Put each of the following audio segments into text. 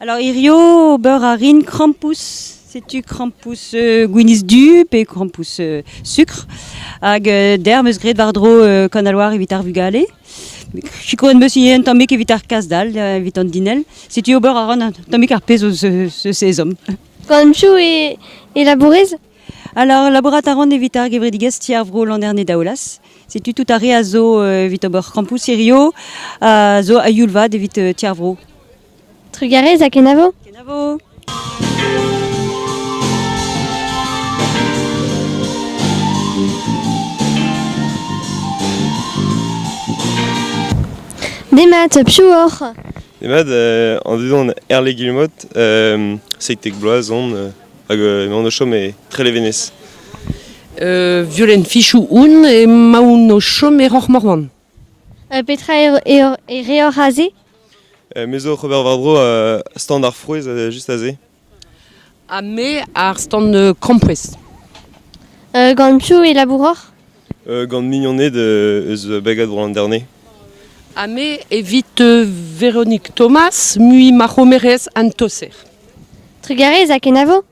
Alors hirio ober a rin krampouezh. Setu krampouezh euh, gwinizh du pe krampouezh euh, sukr. Hag euh, der 'm eus graet war-dro Kan al Loar evit ar vugale. Sikour en beus un tammig evit ar kas-dal, evit an dinell. Setu ober a ran un tammig ar pezh eus ce sezon. Kanchou e, e labourez Alors, labourat a ran evit ar gevredigezh Ti ar Vro Landerne Daolas. Setu tout ar re a zo evit ober krampouezh hirio, a zo a youl vat evit Ti ar Vro. Trugarez ha kenavo. Kenavo. Demat, piou oc'h Demat, euh, an dudon erle gilmot, euh, seitek bloaz on, euh, hag euh, emaon o chom e Trelevenez. Euh, violent fichou oun e maoun o chom e Roc'h Morvan. Petra e reoc'h aze ? Me zo oc'h ober war-dro stand ar frouezh just aze. Ha me ar stand krampouezh. Gant piv e labouroc'h ? Gant mignoned eus Bagad Bro-Landerne. Ha me evit Véronique Thomas, mui ma c'homerez an toser. Trugarez ha kenavo.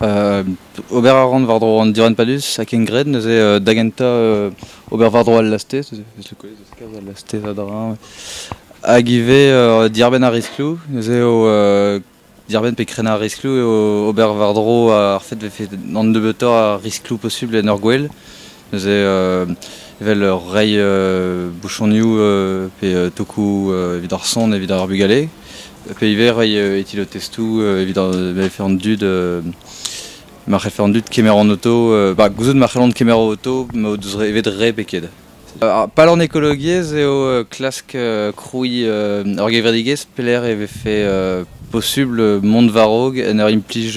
ober a ran war-dro an diranpadus ha ken graet neuze da gentañ ober war-dro al lastez kalz al lastez a-dreñv hag ivez diarbenn ar riskloù neuze eo diarbenn pe krenañ ar riskloù eo ober war-dro ar fait vefe an nebeutoc'h a riskloù posubl en ur gwel Neuze evel reiñ bouchonioù pe tokoù evit ar son evit ar bugale. Pe ivez reiñ etilotestoù evit c'hell an dud ma c'hellfe an dud kemer an auto. Ba gouzout ma c'hellont kemer o auto ma o deus evet re pe ket. Pal an ekologiezh eo klask krouiñ ur gevredigezh pelec'h e vefe posubl mont war-raok en ur implij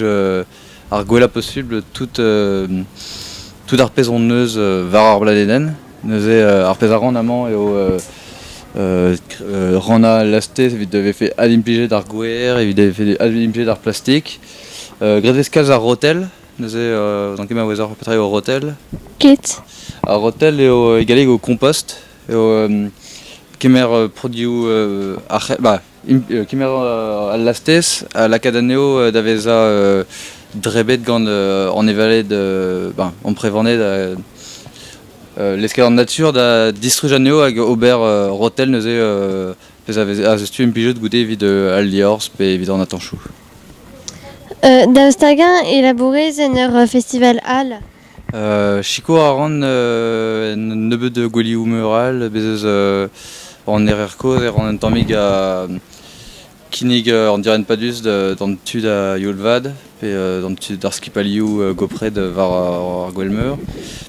ar gwellañ posubl tout, tout ar pezh hon eus war ar bladenenn. Neuze ar pezh a ran amañ eo rannañ laste evit vefe adimplijet ar gwer, evit vefe adimplijet ar plastik. graet vez kalz ar rotel, neuze n'on ket maouezoc'h petra eo rotel. Ket. Ar rotel eo e galleg eo kompost, eo kemer produioù ar c'h- bah kemer al lastez, a lakaat anezho da vezañ drebet gant an evaled ben, amprevaned l'escadre nature da distruj anezho hag ober rotel neuze pezh a vez tu implijet goude evit al liorzh pe evit an atanchoù. Da staga elabourez en ur festival all Sikour a ran un nebeud gouelioù meur all. Bez' ez eus an Erer Kozh e ran un tammig a kinnig an direnn padus d'an tud a youl-vat pe d'an tud d'ar skipailhoù gopret war ar gouel-meur.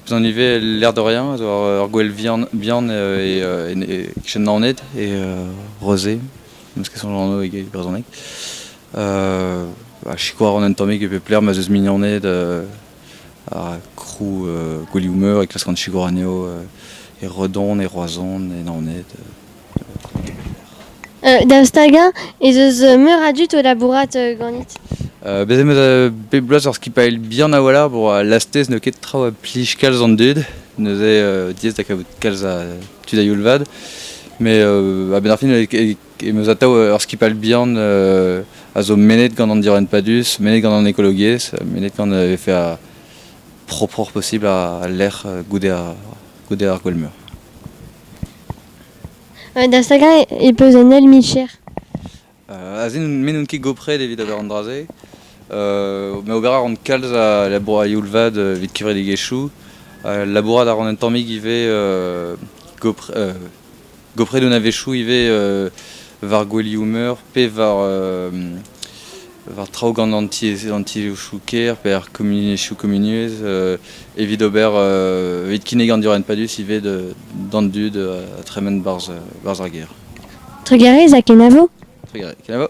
Bezan ivez Lerderien a zo ur gouel vihan bihan e Naoned e Rozé, n'eus ket soñj anv e brezhoneg. ha sikour a ran un tammig e pep lec'h ma 'z eus mignoned ha krou gweliou-meur e klaskan sikour anezho e Redon, e Roazhon, e Naoned. da stagañ ez eus meur a dud o labourat ganit. Bez em eus bep bloaz ur skipailh bihan a-walc'h bon, lastez n'eo ket traoù a plij kalz an dud, neuze diaes da kavout kalz a tud a-youl vat. Mais a-benn ar fin e Em eus atav ur skipailh bihan a zo mennet gant an direnn padus, mennet gant an ekologiezh, mennet gant vefe propre possible al lec'h goude ar, goude ar gwell-meur. Da stagañ e peus un ail micher euh, Aze n'oun ket gopret evit ober an dra-se. Euh, me ober a ran kalz a labour a youl-vad evit kevredigezhioù. labourat a ran un tammig ivez euh, gopret un a-wechoù ivez war gouelioù-meur pe war, war traoù gant anti-chouker pe ar komuniezhioù komunuezh evit ober evit kinnig an diorren padus ivez d'an dud ha tremen barzh ar gêr. Trugarez ha kenavo. Trugarez. Kenavo.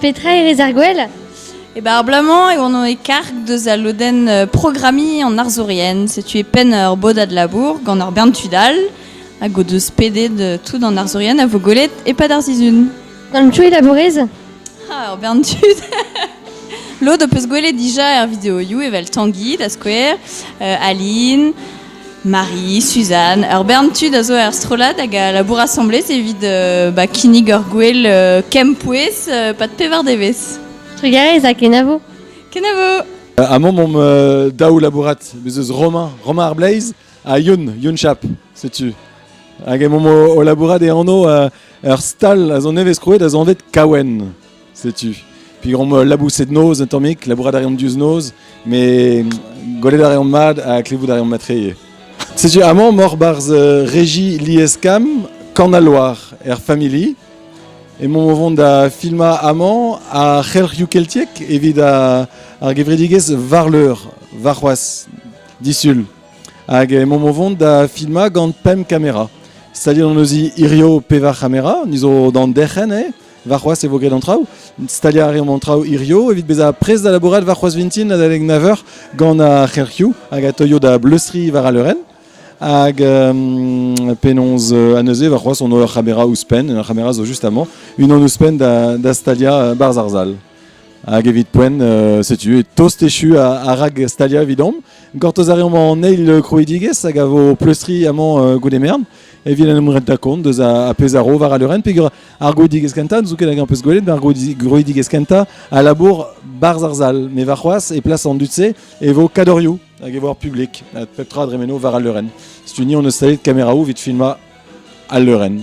Petra e rez ar gwell? E bar bloaz-mañ e oan e karg deus al lodenn programmiñ an arzourien. Setu e penn ur bodad labour gant ar bern tud all hag o deus pedet tout an arzourien a vo gwelet e-pad ar sizhun. Gant tu e labourez? Ah, ur bern tud! Lod ho peus gwelet dija er videoioù evel Tanguy da skouer, Aline, Marie, Suzanne. Ur bern tud a zo er strollad hag a labour asambles evit ba, kinnig ur gwel kempouez pad pevar devezh. Trugarez ha kenavo. Kenavo. Amon on me daou labourat, bez eus Romain, Romain Arblaze, ha Yun, Yun Chap, setu. Hag emon o labourat e anv ur stal a zo nevez krouet a zo anvet Kawen. Setu. Pigomp euh, laboused noz un tammig, labourat a reomp diouzh noz, mais golet a reomp mat ha klevout a reomp matreye. Setu amañ mor barzh euh, Regi Lieskam, Kan al Loar er familli. Emaomp o vont da filmañ amañ ar c'helc'hioù keltiek evit ar gevredigezh Varleur, Varc'hoaz, disul. Hag emaomp o vont da filmañ gant pemp kamera. Staliet on eus hirio pevar c'hamera, nizo d'an derc'hen, eh? Varc'hoaz e vo graet an traoù. Staliañ a reomp an traoù hirio evit bezañ prest da labourat varc'hoaz vintin adalek 9h gant ar c'herc'hioù hag a teuio da bleustri war al leurenn. Hag euh, penaos euh, neuze varc'hoaz on ur c'hamera ouzhpenn, un c'hamera zo juste amañ, unan ouzhpenn da, da staliañ euh, Bar Zarzal. Hag evit poent, euh, setu tost echu a, rag stalia evidomp. Gortoz a reomp an eil krouidigez hag a vo pleustri amañ euh, goude mern. Evit en em rent da kont deus a, pezh a ro war al leurenn. Peger ar grouidigez kenta, zoken hag an peus gwelet, ar grouidigez kenta a labour barz ar sal. Me varc'hoaz, e plas an dud-se, e vo kadoriou hag e vo ar publik. Pep tra dremeno war al leurenn. Stu ni on eus savet kameraou evit filma al leurenn.